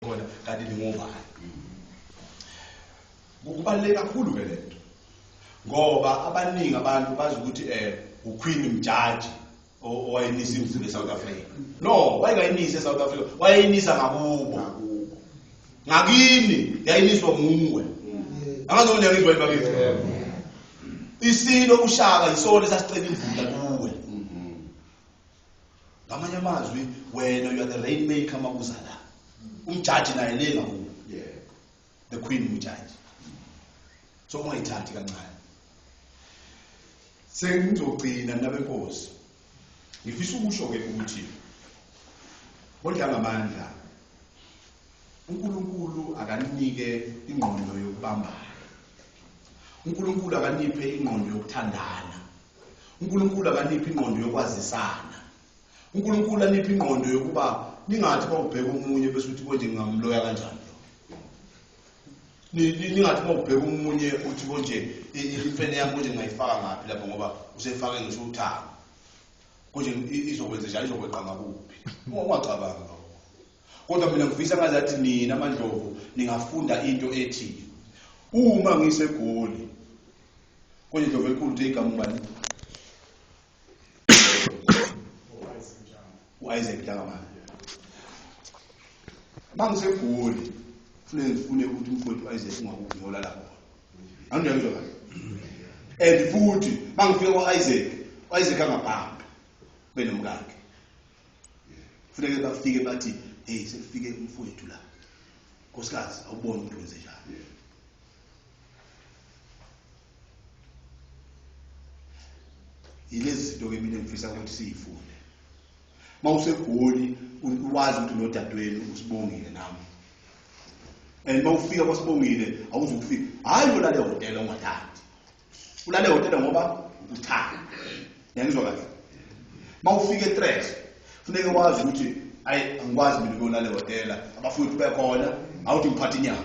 khona kanti ningobani kubaluleke kakhulu ke le nto ngoba abaningi abantu bazi ukuthi um eh, uqueen mjaji owayinisa imizimba esouth africa no wayengayinisi esouth africa wayeyinisa ngakubo ngakini yayiniswa nguwe angazoneka izwa ibakithi isilo ushaka yisona esasicela imvula kuwe ngamanye amazwi wena you are the rain maker uma uza la umjaji naye le ngakubo the queen umjaji so ungayithathi kancane sengizogcina nabenkosi ngifisa ukusho-ke ukuthi bodlangamandla unkulunkulu akanike ingqondo yokubambana unkulunkulu akaniphe ingqondo yokuthandana uNkulunkulu akaniphi ingqondo yokwazisana uNkulunkulu aniphi ingqondo yokuba ningathi bawubheka umunye bese uthi konje ngingamloya kanjani ningathi bawubheka umunye uthi konje imfene yami konje ngingayifaka ngaphi lapho ngoba usefake ngisho uthanga konje izokwenze njani izokweqa ngakuphi ungacabanga lokho kodwa mina ngifisa ngazi athi nina amandlovu ningafunda into ethi uma ngisegoli Kwenye ndovu enkulu nje igama ubani? U-Isaac Ntangamana. Mangisegoli fune ngifune ukuthi umfowethu u-Isaac ungakuphi ngiyola lapho. Angiyangizwa kahle. And futhi mangifika kwa-Isaac, u-Isaac angabhambi benomkakhe. Funeke bafike bathi, "Hey, sekufike umfowethu la." Nkosikazi, awuboni ukuthi wenze njani. yilezi zinto ke mina ngifisa ukuthi siyifunde uma usegoli wazi ukuthi nodadewenu usibongile nami and uma ufika kwasibongile awuzukufika hhayi ulale hotela ungathandi ulale hotela ngoba uthanda yangizwa kahle uma ufika etres funeke wazi ukuthi ayi angikwazi mina ukuyolala ehhotela abafowethu bekhona awuthi ngiphathe inyama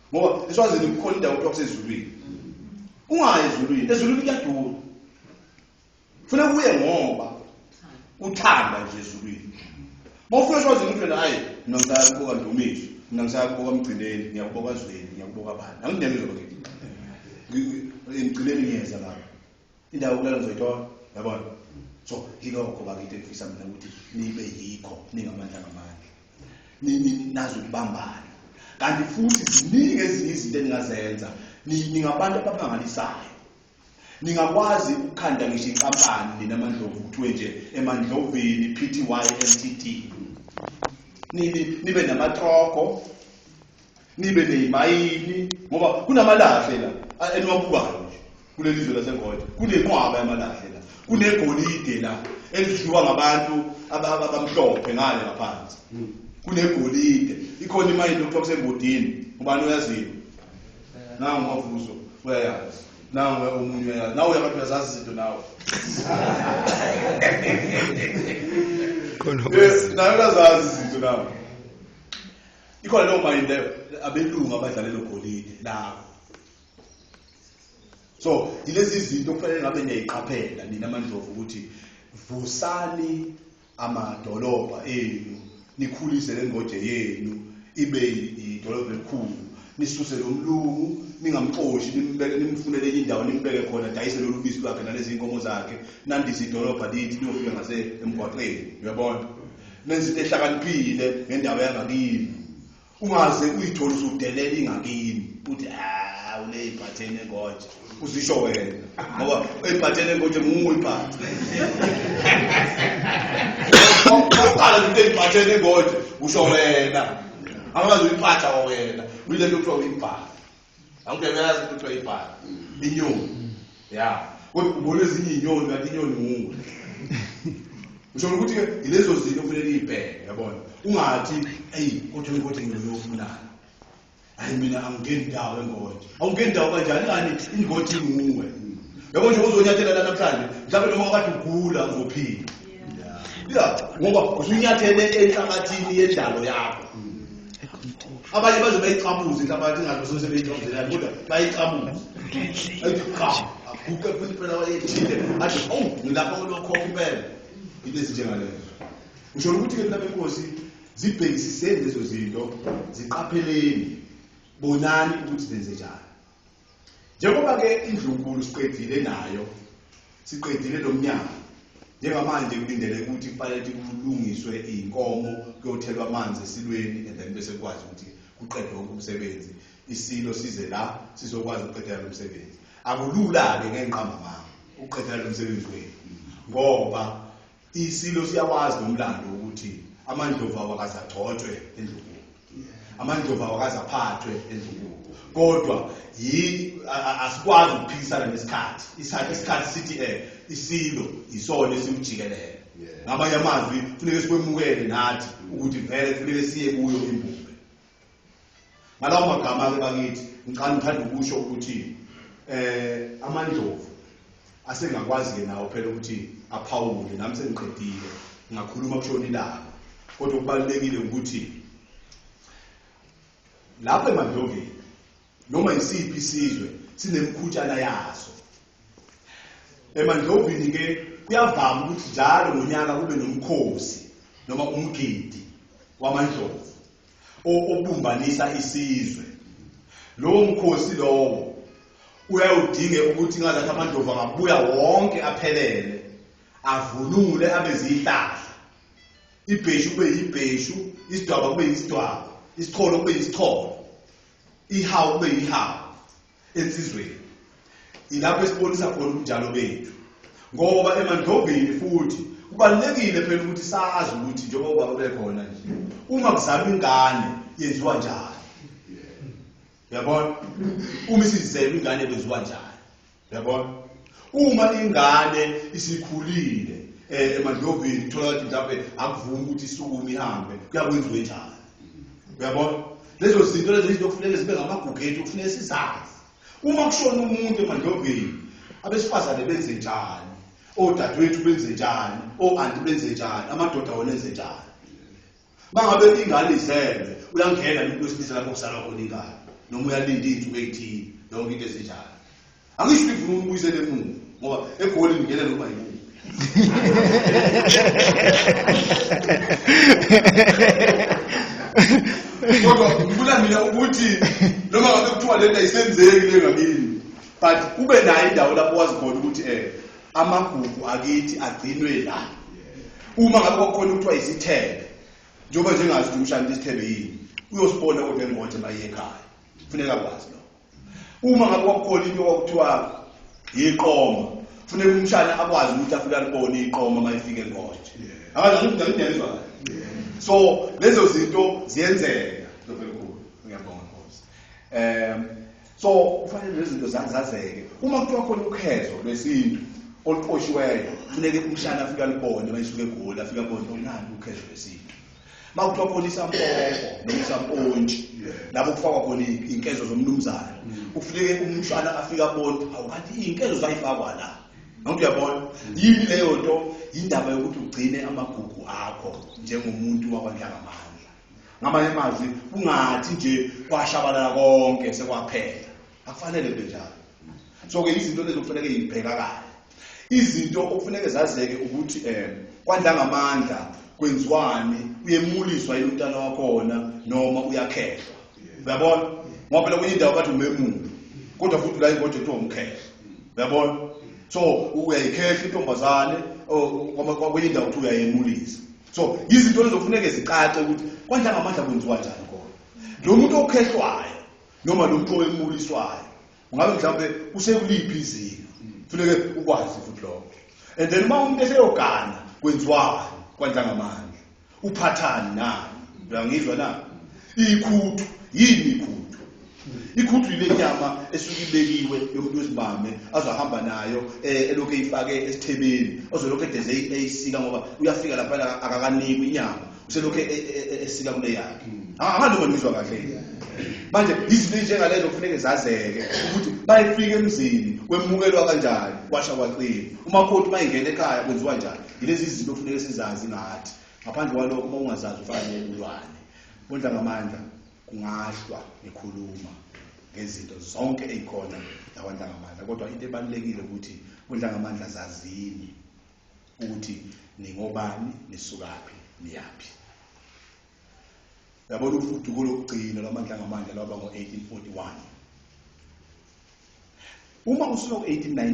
ngoba eswazini kukhona indawo kuthiwa kusezulwini ungayi ezulwini ezulwini kuyadura funa kuye ngoba uthanda nje ezulwini mawufuna eswazini ukuthi wena hayi mina ngisaya kuboka ndumiso mina ngisaya kuboka mgcineni ngiyakuboka zweli ngiyakuboka bani angineme zoke emgcineni ngiyeza lapho Indawo kulala ngizoyithola. Yabona? So yilokho bakithi engifisa mina ukuthi nibe yikho ningamandla ngamandla. Ni- ni- Nazi ukubambana. Kanti futhi ziningi ezinye izinto eningazenza. Ni- Ningabantu abamangalisayo. Ningakwazi ukukhanda ngisho inkampani nina mandlovu kuthiwe nje emandlovini PTY Ltd. Ni- ni- Nibe namatroko nibe neyimayini ngoba kunamalahle la a- eniwabukayo nje kuleli zwe laseGold kunenqwaba yamalahle la kunegolide la elidliwa ngabantu aba- aba- abamhlophe ngale ngaphansi kunegolide ikhona imayini okuthiwa kusembodini ubani oyaziyo nangu mavuzo uyayazi nangu omunye uyayazi nawe uyabantu uyazazi izinto nawe Khona Eh, nawe uyazazi izinto nawe ikhona leyo mayini leyo abelungu abadlale logolide lawo so yilezi zinto okufanele ngabe niyayiqaphela nina amandlovu ukuthi vusani amadolobha enu nikhulise le ngoje yenu ibe idolobha elikhulu nisuse lo mlungu ningamxoshi nimbeke nimfunele enye indawo nimbeke khona dayise lolu bisi lwakhe nalezi nkomo zakhe nandise idolobha lithi liyofika ngase emgwaqeni uyabona nenza into ehlakaniphile ngendawo yangakini ungaze uyithole usudelela ingakini uthi hawu le iphathene konje uzisho wena ngoba uyiphathene konje nguwe iphathe oqala into eyiphathene konje usho wena angazi uyiphatha wena uyilento kuthiwa uyibhala Angeke uyazi ukuthi kuthiwa ibhala. Inyoni. Ya. Kodwa ubona ezinye inyoni kanti inyoni nguwe. Usho ukuthi ke ilezo zinto kufanele ibheke yabona. Ungathi ey kodwa ukuthi ngiyofunana. Hayi mina angingeni ndawo engothi. Awungeni ndawo kanjani ngani ingothi nguwe. Yabo nje uzonyathela la namhlanje. Mhlawumbe noma wakade ugula uzophila. Ya ngoba usunyathele enhlabathini yendalo yakho. abanye baze bayicabuze inhlabathi ingathi sebeyicabuzelani kodwa bayicabuze ayiqha aguqe futhi phela wayethile athi owu ngilapha kulokhokho impela into ezinjengalezo usho ukuthi-ke mna benkosi zibhekisiseni lezo zinto ziqapheleni bonani ukuthi zenze njani Njengoba-ke indlunkulu siqedile nayo, siqedile lo mnyango, njengamanje kulindele ukuthi kufanele ukuthi kulungiswe iy'nkomo, kuyothelwa amanzi esilweni and then bese kukwazi ukuthi kuqedwe wonke umsebenzi, isilo size la sizokwazi ukuqedela lo msebenzi. Akulula-ke ngenqamamanga ukuqedela lo msebenzi wenu ngoba Isilo siyawazi nomlando ukuthi amandlovu awakaze agcotshwe endlunkulu amandlovu awakaze aphathwe endlunkulu kodwa asikwazi ukuphikisana nesikhathi isikhathi isikhathi sithi um isilo yisona esiwujikelele ngamanye amazwi funeke sikwemukele nathi ukuthi vele funeke siye kuyo imbumbe ngalawo magama-ke bakithi ngicane ngithanda ukusho ukuthi eh amandlovu asengakwazi-ke nawo phela ukuthi aphawule nami sengiqedile ngakhuluma kushona ilanga kodwa okubalulekile ukuthi lapho emandloveni Noma yisiphi isizwe sinemikhutshana yaso. Emandlovini ke kuyavama ukuthi njalo ngonyaka kube nomkhosi noma umgidi wamandlovu obumbanisa isizwe. Lowo mkhosi lowo uyawudinge ukuthi ngazathi amadlovu angabuya wonke aphelele avunule abe zihlahla ibheshu kube yibheshu isidwaba kube yisidwaba isicholo kube yisicholo Ihawu kube yihawu ensizweni. Ilapho esibonisa khona ubunjalo bethu. Ngoba emandlobeni futhi kubalulekile phela ukuthi sazi ukuthi njengoba ubaba bekhona nje uma kuzalwa ingane yenziwa njani. Yabona? Uma isizelwe ingane kwenziwa njani? Yabona? Uma ingane isikhulile eh emadlovini uthola ukuthi mhlawumbe akuvumi ukuthi isukume ihambe kuyakwenziwe njani. Uyabona? Lezo zinto lezi izinto kufuneka zibe ngamagugethi kufuneka sizazi. Uma kushona umuntu emadlovini abesifazane benze njani? Odadewethu benze njani? Oanti benze njani? Amadoda wona enze njani? Uma ngabe ingane izelwe uyangena umuntu wesilisa lapho kusala khona ingane noma uyalinda iy'nsuku ey'thile yonke into ezinjalo. Angisho ukuthi ngifuna ukubuyisela emuva ngoba egolini ngena noma yini. kodwa ngifuna mina ukuthi noma ngabe kuthiwa lento ayisenzeki le ngakini but ube nayo indawo lapho wazi khona ukuthi um amagugu akithi agcinwe la uma ngabe kwakukhona ukuthiwa isithebe njengoba njengazi ukuthi umshana isithebe yini uyosibona kodwa engothi uma iye ekhaya kufuneka kwazi lokho uma ngabe kwakukhona into kwakuthiwa yiqoma kufuneka umshana akwazi ukuthi afike alibone iqoma uma efike engothi akazi ukuthi ngiyizwa so lezo zinto ziyenzeka ndobekhulu ngiyabonga nkosi um so kufanele lezi zinto zazazeke uma kuthiwa khona ukhetho lwesintu oluqoshiweyo funeke umshana afike alibone mayisuke egoli afike abone onani oh, ukhetho lwesintu uma kuthiwa khona isampoko noma isampontshi lapho kufakwa khona iy'nkezo zomnumzane mm. kufuneke umshana afike abone awu kanti iy'nkezo zayifakwa la nonke uyabona yini leyo nto yindaba yokuthi ugcine amagugu akho njengomuntu wakwanhlangamandla ngamanye amazwi kungathi nje kwashabalala konke sekwaphela akufanele kube njalo so ke izinto lezi okufanele yibheka kahle izinto okufanele zazeke ukuthi eh kwandla ngamandla kwenziwani uyemuliswa yini umntana wakhona noma uyakhehlwa uyabona ngoba phela kwenye indawo bathi umemulo kodwa futhi la ingoje kuthiwa umkhehla uyabona so uyayikhehla intombazane oh, kwenye indawo kuthiwa uyayemulisa so yizinto ezofuneke zicace ukuthi kwandla ngamandla kwenziwa njani khona lo muntu okhehlwayo noma lo muntu owemuliswayo ungabe mhlawumbe usekuliphi izinga funeke ukwazi futhi lokho and then uma umuntu eseyogana kwenziwani kwandla ngamandla uphathani nani uyangizwa na ikhuthu yini ikhuthu Ikhuthu yile nyama esuke ibekiwe yomuntu wesibame azohamba nayo eh, elokhu eyifake esithebeni ozolokhu edeze eyisika ngoba uyafika lapha akakanikwi inyama uselokhu e, e, e, esika kule yakhe ahambe ah, ngizwa kahle manje izinto njengalezo kufuneke zazeke ukuthi bayifika emzini kwemukelwa kanjani kwasha kwaqina umakoti mayingena ekhaya kwenziwa njani yilezi zinto kufuneke sizazi ngathi ngaphandle kwalokho uma ungazazi ufanele ulwane bondla ngamandla kungahlwa nikhuluma ngezinto zonke ezikhona lakwantangamandla kodwa into ebalulekile ukuthi kuntangamandla zazini ukuthi ningobani nisukaphi niyaphi yabona ufuduko lokugcina lwamandla ngamandla lwaba ngo-1841 uma usuka ku-1819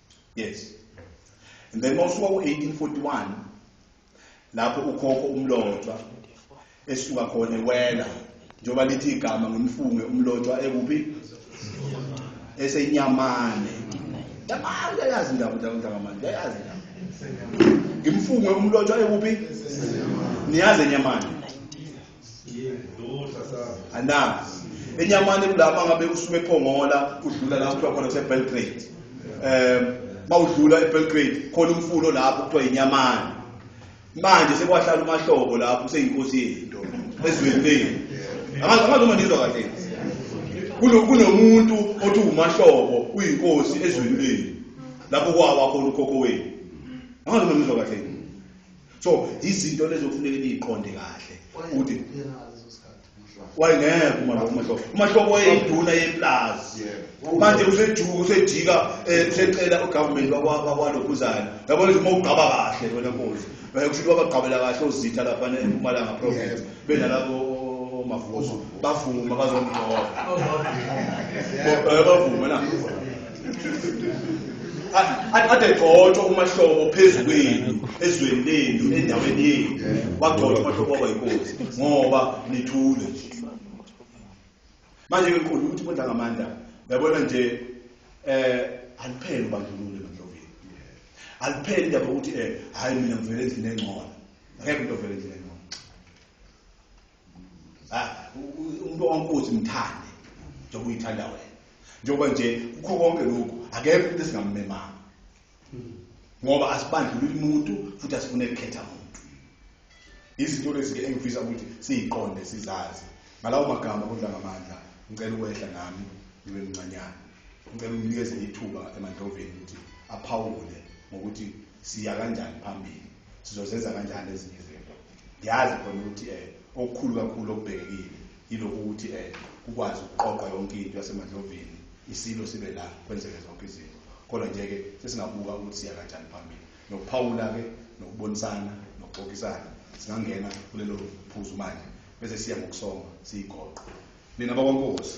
yes and then mawusuka ku-1841 lapho ukhokho umlotshwa esuka khona ewela njengoba lithi igama ngimfunge umlotshwa ekuphi esenyamane yamane yayazi indaba ntakamane yayazi ngimfunge umlotshwa ekuphi niyazi enyamane ana enyamane kulama ngabe usuke ephongola udlula la kuthiwa khona sebelgrade um mawudlula ebelgrade khona umfulo lapho kuthiwa yinyamane manje sekwahlala umahlobo lapho useyinkosi yento ezweni leni angazi uma nizwa kahle kunomuntu othi umahlobo uyinkosi ezweni leni lapho kwawa khona ukhokho wenu angazi uma nizwa kahle so izinto lezo kufuneka niyiqonde kahle ukuthi wayengeke umahlobo umahlobo wayeyinduna yeplazi manje usejuka usejika eh, usecela ugovernment wakwalokhuzana yabona ukuthi uma ugqaba kahle wena nkosi eh, kushuthi wabagqabela kahle ozitha laphana empumalanga province benalabo omavuso bavuma bazomgqoba oh, eh, bavuma na adegxotshwa umahlobo phezu kwenu ezweni lenu endaweni yenu wagxotshwa umahlobo waba yinkosi ngoba nithule nje manje ke mkhulu ukuthi kwenda ngamandla uyabona nje eh aliphele ubandlululo emandloveni aliphele indaba ukuthi eh hayi mina ngivele endlini engcono akekho into ovele endlini umuntu wankosi mthande njengoba uyithanda wena njengoba nje kukho konke lokhu akekho umuntu esingammemanga ngoba asibandlululi muntu futhi asifune kukhetha muntu izinto lezi-ke engifisa ukuthi siyiqonde sizazi ngalawo magama kudla ngamandla ngicela ukwehla nami ngibe mncanyana ngicela umnikeze ithuba emandloveni ukuthi aphawule ngokuthi siya kanjani phambili sizozenza kanjani ezinye izinto ngiyazi khona ukuthi um okukhulu kakhulu okubhekekile yilokhu ukuthi um kukwazi ukuqoqa yonke into yasemadlovini isilo sibe la kwenzeke zonke izinto kodwa nje-ke sesingabuka ukuthi siya kanjani phambili nokuphawula-ke nokubonisana nokuxoxisana singangena kulelo phuzu manje bese siya ngokusonga siyigoqo nina bakwankosi